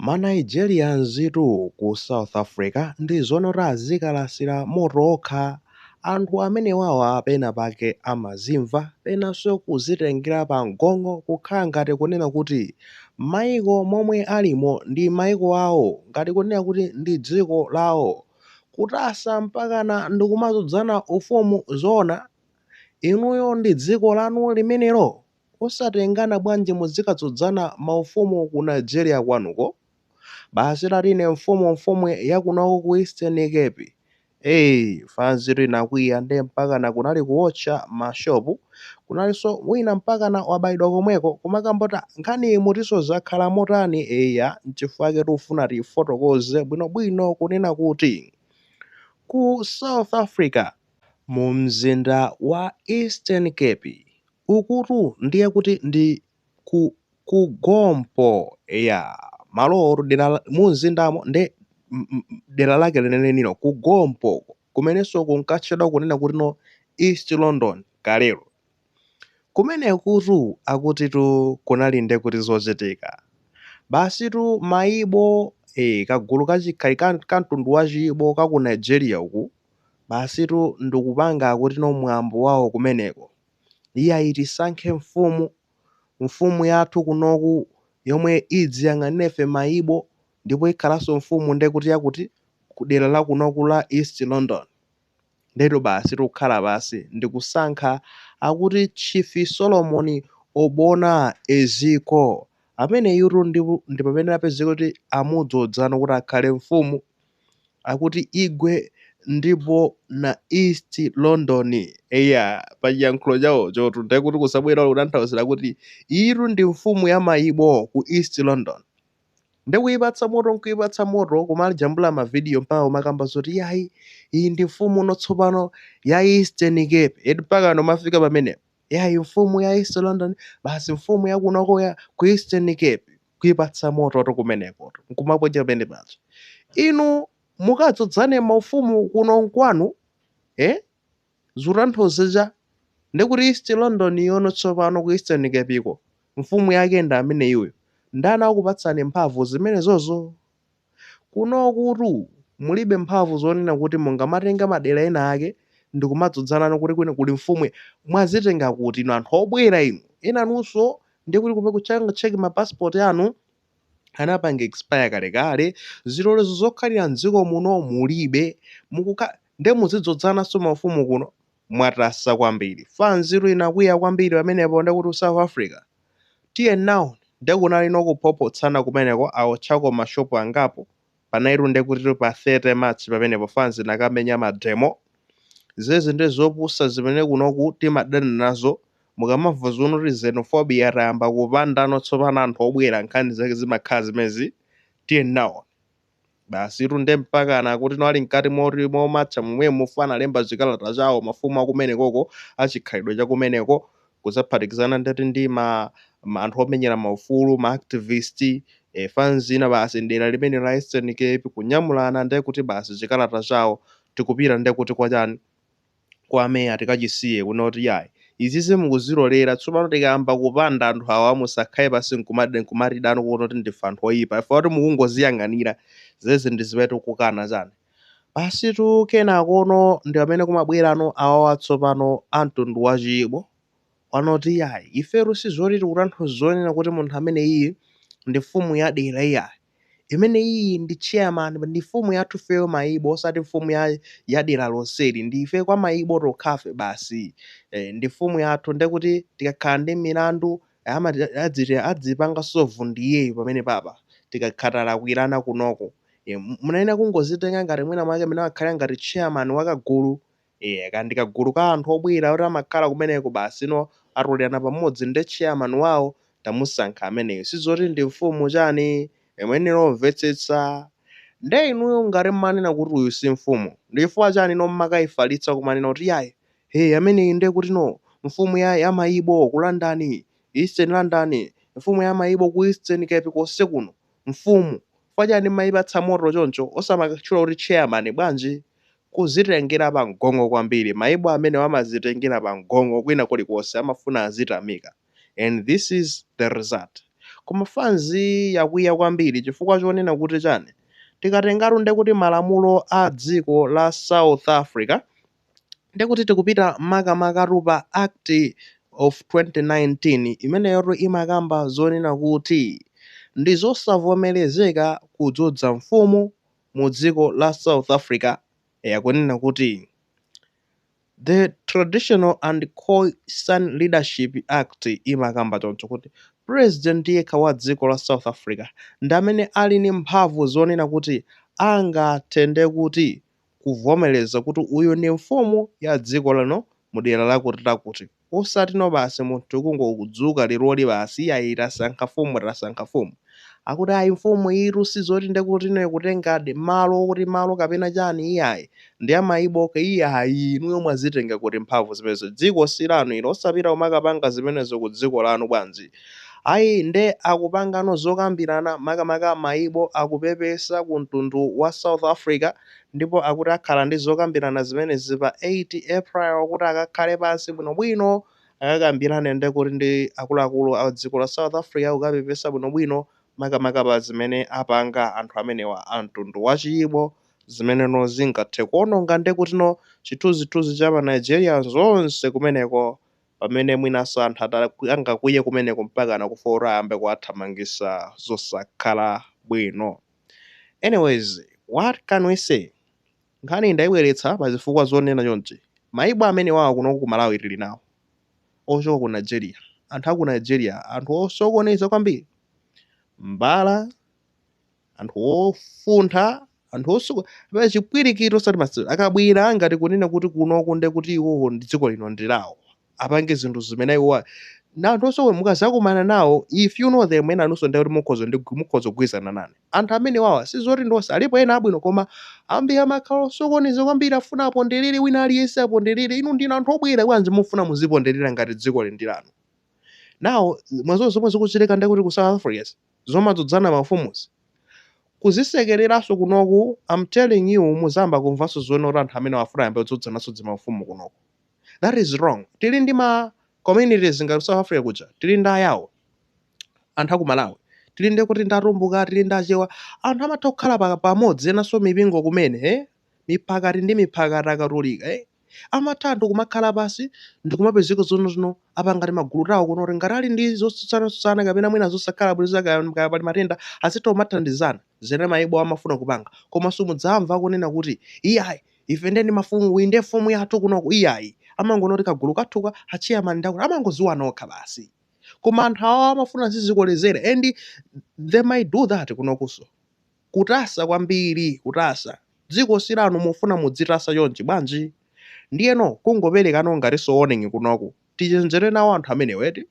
Ma Nigerians tu ku South Africa ndi zoona azikalasira moto okha. Anthu amenewawa pena pake amazimva, penanso kuzitengela pa mgongo kukhala ngati kunena kuti maiko momwe alimo ndi maiko awo, ngati kunena kuti ndi dziko lawo. Kutasa mpakana ndikumadzodzana ufumu zoona? Inuyo ndi dziko lanu limenelo? osatengana bwanji muzikadzodzana maufumu ku Nigeria kwanuko? basi ati ine mfumu mfumu yakunoko ku Eastern Cape ee fanzitu inakwiya nde mpakana kunali kuwotcha ma shop kunalinso wina mpakana wabaidwa komweko kumakamba kuti nkhani mutinso zakhala motani eya nchifukwa chake tikufuna tifotokoze bwinobwino kunena kuti ku South Africa Mu mzinda wa Eastern Cape, ukutu ndiye kuti ndi ku Gompo eya malowotu dera mu mzindamo nde dera lake lenelenilo ku Gompo kumenenso kunkatchedwa kunena kuti no East London kalelo. Kumenekutu akutitu kunali nde kuti zochitika. Basitu ma Igbo, eh, kagulu ka chi, kali ka, ka mtundu wa chi Igbo ka ku Nigeria uku, basitu ndikupanga akuti no mwambo wawo kumeneko. Iyayi tisankhe mfumu, mfumu yathu kunoko yomwe idziyang'anira ife ma Igbo ndipo ikhalanso mfumu nde kuti yakuti ku dera la kunoko la East London. Ndetu basitu kukhala pansi ndi kusankha, akuti Chief Solomon Obona Eziko. Ameneyutu ndi amene apezeka kuti amudzodzano kuti akhale mfumu, akuti igwe ndipo na East London. Eya, pa chiyankhulo chawochotu ndiye kuti kusabwera kutanthauzira kuti iyitu ndi mfumu ya ma Igbo ku East London. nde kuipatsa moto nkuipatsa moto kumajambula mavidiyo mpaka kumakamba zoti yayi iyi ndi mfumu no tsopano ya eastern cape eti mpaka no kumafika pamenepo yayi mfumu ya east london basi mfumu yakunoko ya ku eastern cape kuipatsa mototu kumenekotu nkumaponya pamene paja inu mungadzodzane maufumu kuno nkwanu eh? Zikutanthauza chani ndekuti East London yono tsopano ku Eastern Capeko, mfumu yake ndi ameneyoyo. Ndani wakupatsani mphamvu zimenezozo? Kunokutu mulibe mphamvu zonena kuti mungamatenga madera ena ake ndikumadzodzana no kuti kwina kuli mfumu mwazitenga kuti inu anthu obwera inu? Enanunso ndekuti kume ku check ma passport anu anapanga expire kalekale, zilolezo zokhalira mdziko muno mulibe, mukuti nde muzidzodzananso maufumu kuno? mwatasa kwambiri. fanzitu inakwiya kwambiri pamenepo ndekuti ku south africa? tiye nawoni, nde kunalino kuphophotsana kumeneko awotchako ma shop angapo. panja itu nde kutitu pa 30 march pamenepo fans inakamenya ma demo zezi nde zopusa zimene kunoku timadana nazo mukamamva zonoti xenophobia atayamba kupandano tsopano anthu obwera nkhani zake zimakhala zimezi tiye nawoni basitu nde mpakana kutino ali mkati momatcha momwemo analemba chikalata chawo mafumu akumenekoko achikhalidwe chakumeneko kudzaphatikizana ndithu ndi ma ma anthu omenyera maufulu, ma activist, eh, fans ina basi m'dera limene la Eastern Cape, kunyamulana ndiye kuti basi chikalata chawo tikupitira ndiye kuti kwa chani, kwa meya tikachisiye kunena kuti yayi izizi mukuzilolera tsopano tikayamba kupanda anthu awa musakhale pansi nkumati nkumatida nkunena kuti ndife anthu oyipa chifukwa kuti mukungoziyang'anira zezi ndi zimene tikukana chani. Basitu kenakono ndi pamene kumabwerano awawa tsopano a mtundu wa chi Igbo anoti iyayi ifetu si zoti tikutanthauza zonena kuti munthu ameneyiyi ndi mfumu ya dera iyayi. Imeneyiyi ndi chani, ndi mfumu yathu ifeyo ma Igbo osati mfumu ya dera lonseli ndi ife kwa ma Igbo tokhafe basi. Eh, ndi mfumu yathu nde kuti tikakhala ndi milandu adzipanga solve ndi iyeyo pamenepapa tikakhala talakwirana kunoko. Munayenera kungozitenga ngati mwina mwake mene amakhalira ngati chairman wa kagulu. Eya, kaya ndi kagulu ka anthu obwera oti amakhala kumeneko basi ino atolerana pamodzi nde chairman wawo tamusankha ameneyu. Sizoti ndi mfumu chani, muyenera kumvetsetsa. Nde inuyo ngati mmanena kuti uyu si mfumu, ndi chifukwa chani ino mmakaifalitsa kumanena kuti iyayi, hey ameneyi nde kutino mfumu ya mayibo ku London, East London, mfumu ya mayibo ku Eastern Cape konse kuno. Mfumu, Chifukwa chani mmaipatsa moto choncho? Osamakatchula kuti chairman bwanji? Kudzitengera pamgong'o kwambiri. Maibo amenewa amadzitengera pamgong'o kwina kulikonse amafuna azitamika and this is the result. Koma fans yakwiya kwambiri chifukwa chonena kuti chani? Tikatengatu ndekuti malamulo a dziko la South Africa Ndiye kuti tikupita makamakatu pa Act of 2019 imeneyotu imakamba zonena kuti ndi zosavomerezeka kudzodza mfumu mu dziko la South Africa, eya kunena kuti The Traditional and Khoi-San Leadership Act imakamba choncho kuti President yekha wa dziko la South Africa ndi amene ali ndi mphamvu zonena kuti angathe ndiye kuti kuvomereza kuti uyu ndi mfumu ya dziko lino mu dera lakuti lakuti osati no basi munthu kungokudzuka leroli basi iyayi tasankha mfumu tasankha mfumu akuti ayi mfumu iyitu sizoti ndekuti no ikutengadi malo okuti malo kapena chani iyayi ndi ya mayibo okha iyayi inuyo mwazitenga kuti mphamvu zimenezo dziko silanu ilo osapita kumakapanga zimenezo ku dziko lanu bwanji Ayi, nde akupangano zokambirana makamaka mayibo akupepesa ku mtundu wa South Africa ndipo akuti akhala ndi zokambirana zimenezi pa 8 April kuti akakhale pansi bwinobwino akakambirane nde kuti ndi akuluakulu a dziko la South Africa kukapepesa bwinobwino makamaka pa zimene apanga anthu amenewa a mtundu wa chiyibo zimene no zingathe kuononga nde kutino chithunzithunzi cha ma Nigerians onse kumeneko pamene mwinanso anthu angakwiye kumeneko mpakana kufika kuti ayambe kuwathamangisa zosakhala bwino anyways what can we say nkhaniyi ndaibweretsa pa zifukwa zonena chonchi mayibo amenewawa kunoku ku malawi tili nawo ochoka ku nigeria anthu aku nigeria anthu osokoneza kwambiri mbala anthu ofuntha anthu osuka pa chipwirikito osati masewera akabwera ngati kunena kuti kunoku nde kuti iwowo ndi dziko lino ndi lawo apange zinthu zimene iwo na anthu osowe mukazakumana nawo if you know them enanunso nde kuti mukhoza ndi mukhoza kugwirizana nane anthu amene wawa si zoti ndonse alipo ena abwino koma ambiri amakhala osokoneza kwambiri afuna aponderere wina aliyense aponderere inu ndinu anthu obwera bwanji mufuna muziponderera ngati dziko lindilanu nde mwa zomwe zomwe zikuchitika nde kuti ku south africa zomadzodzana maufumuzi? Kuzisekeleranso kunoku am telling you muzayamba kumvanso zoona kuti anthu amenewa afuna ayambe kudzodzananso dzimaufumu kunoku. That is wrong. Tili ndi ma communities ngati ku South Africa kuja, tili ndi ayawo, anthu aku Malawi, tili ndikuti ndi atumbuka, tili ndi achewa, anthu amatha kukhala pamodzi enanso mipingo kumene, miphakati ndi miphakati akatolika eh amatha anthu kumakhala pansi ndikumapezeka zoona no apanga timagulu tawo kuno kuti ngati ali ndi zotsutsana-tsutsana kapena mwina zosakhala bwino zakaya mkaya pali matenda azitha kumathandizana zimene mayibo amafuna kupanga koma simudzamva akunena kuti iyayi ife ndiye ndi mafumu iyi ndiye mfumu yathu kunoku iyayi amangonena kuti kagulu kathuka achairman ndi akuti amangodziwana okha basi koma anthu awa amafuna zosokonezera and they might do that kunokuso Kutasa kwambiri, kutasa. Dziko si lanu mufuna mudzitasa chonchi bwanji? Ndiyeno kungoperekanako ngatinso warning kunoku. Tichenjere nawo anthu amenewa eti?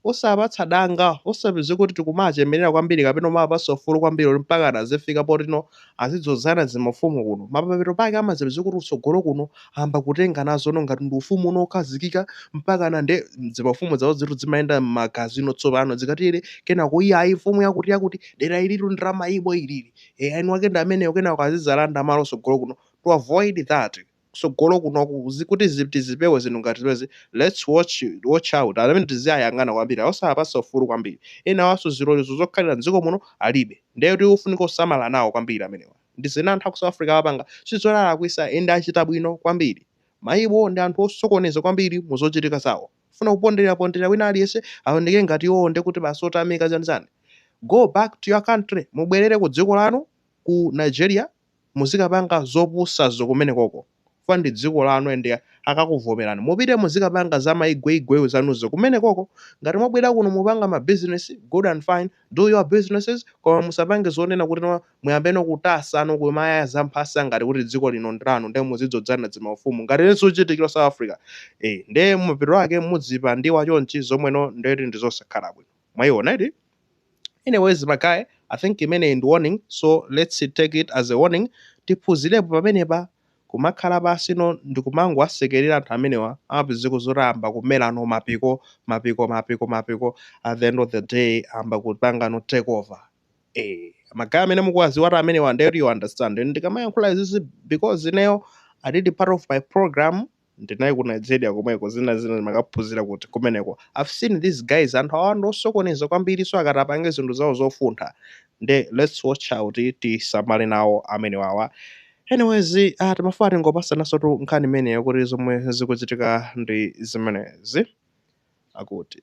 Osawapatsa danga, osapezeka kuti tikumawachemerera kwambiri kapena kumawapatsa ufulu kwambiri woti mpakana azifika potino azidzodzana zimafumu kuno. Mapeto pake amadzapezeka kuti kutsogolo kuno amba kutenga nazono ngati ndi ufumu uno okhazikika mpakana ndi zimafumu zawo zitu zimayenda m'magazi ino tsopano zikatiyere kenako iya ayi mfumu yakuti yakuti dera ilitu ndi la mayibo ilili mwini wake ndi ameneyo kenako azizalanda malo sogolo kuno to avoid that kusogolo kunoku kuti tizipewe zinthu ngati zimezi let's watch out amene tiziyayang'ana kwambiri osaapasa ufulu kwambiri enawanso zilolezo zokhalira mdziko muno alibe ndeyo tiufunika kusamala nawo kwambiri amenewa ndi zimene anthu aku south africa apanga sizolakwika and achita bwino kwambiri mayibo ndi anthu osokoneza kwambiri mu zochitika zawo kufuna kuponderapondereza wina aliyese awoneke ngati iwowo ndekuti basi otamika chani chani go back to your country mubwelere ku dziko lanu ku nigeria muzikapanga zopusazo kumenekoko. chifukwa ndi dziko lanu and akakuvomerani mupite muzikapanga za maigweigweyu zanuzo kumenekoko. Ngati mwabwera kuno mupanga ma business good and fine, do your businesses koma musapange zonena kuti no muyambeno kutasa no kumayaya za mphasa ngati kuti dziko lino ndi lanu nde muzidzodzana dzimaufumu ngati mmene zikuchitikira South Africa. Eh, nde mapeto ake mudzipandidwa chonchi zomweno ndeti ndi zosakhala bwino. Mwayiona eti? Anyways ma guys, I think imeneyi ndi warning so lets take it as a warning. Tiphuzirepo pamenepa. Kumakhala pansi no ndikumangowasekerera anthu amenewa amapezeka zoti ayamba kumela no mapiko, mapiko, mapiko, mapiko at the end of the day ayamba kupanga no take over. Eh, ma guys amene mukuwaziwatu amenewa ndeti you understand. Ndikamayankhula izizi because ineyo I did part of my program ndinali ku Nigeria komweko zina zina ndimakaphunzira kuti kumeneko I've seen these guys anthu awa ndi osokoneza kwambiri so akati apange zinthu zawo zofuntha nde let's watch out tisamale nawo amene wawa anyways uh, timafuna tingopasanansotu nkhani imeneyo kuti zomwe zikuchitika ndi zimenezi akuti